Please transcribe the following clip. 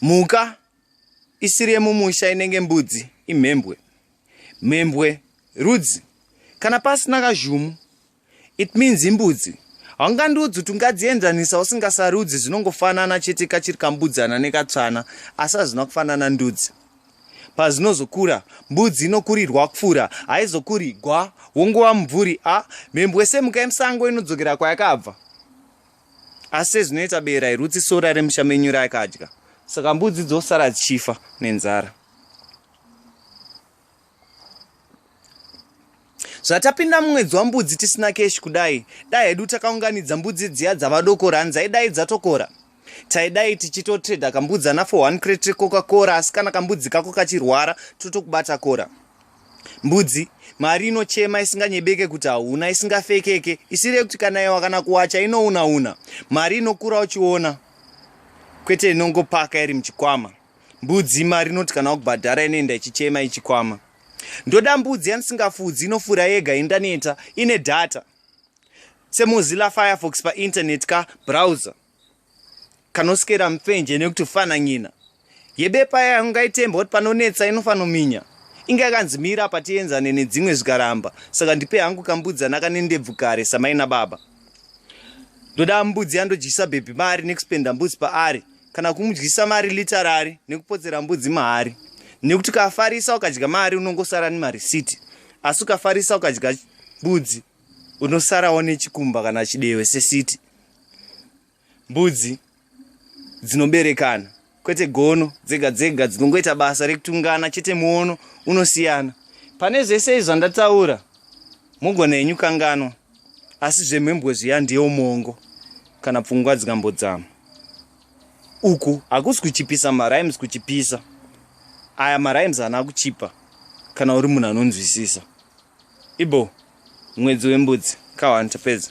Mhuka isiri yemumusha inenge mbudzi imhembwe. Mhembwe rudzi. Kana pasina kazhumu, it means imbudzi. Haungandiudzi kuti ungadzienzanisa usingasarudzi zvinongofanana chete kachiri kambudzana nekatsvana asi hazvina kufanana ndudzi. Pazvinozokura, mbudzi inokurirwa kufura, haizokuri gwa, wongova mumvuri a mhembwe semhuka yemusango inodzokera kwayakabva. asi sezvinoita bere hairutsi sora remusha menyu raakadya saka mbudzi dzosara dzichifa nenzara zvatapinda mumwedzi wambudzi tisina keshi kudai dai hedu takaunganidza mbudzi dziya dzavadoko rani dzaidai dzatokora taidai tichitotreda kambudzi ana 41 crete coca cora asi kana kambudzi kako kachirwara totokubata cora Mbudzi, mari inochema isinganyebeke kuti hauna, isingafekeke, isiri yekuti kana yewa kana kuwacha inouna-una. Mari inokura uchiona, kwete inongopaka iri muchikwama. Mbudzi, mari inoti kana wakubhadhara inoenda ichichema ichikwama. Ndoda mbudzi yandisingafudzi inofura yega indaneta, ine data. SeMozilla Firefox paInternet ka browser. kanosikera mupfenje nekuti fananyina yebepa yayo ngaitemba kuti panonetsa inofanominya inge akanzi mira apa tienzane nedzimwe zvikaramba saka ndipe hangu kambudzana kane ndebvu kare samai nababa ndoda mbudzi yandodyisa bhebhi mari nekuspenda mbudzi paari kana kumudyisa mari litarari nekupotsera mbudzi mahari nekuti ukafarisa ukadya mari unongosara nemarisiti asi ukafarisa ukadya mbudzi unosarawo nechikumba kana chidewe sesiti mbudzi dzinoberekana kwete gono dzega dzega dzinongoita basa rekutungana chete muono unosiyana pane zvese izvi zvandataura mugona henyu kanganwa asi zvemhembwe zviya ndiyo mongo kana pfungwa dzikambodzama uku hakusi kuchipisa marimes kuchipisa aya marimes haana kuchipa kana uri munhu anonzwisisa Ibho mwedzi wembudzi ka one tapedza.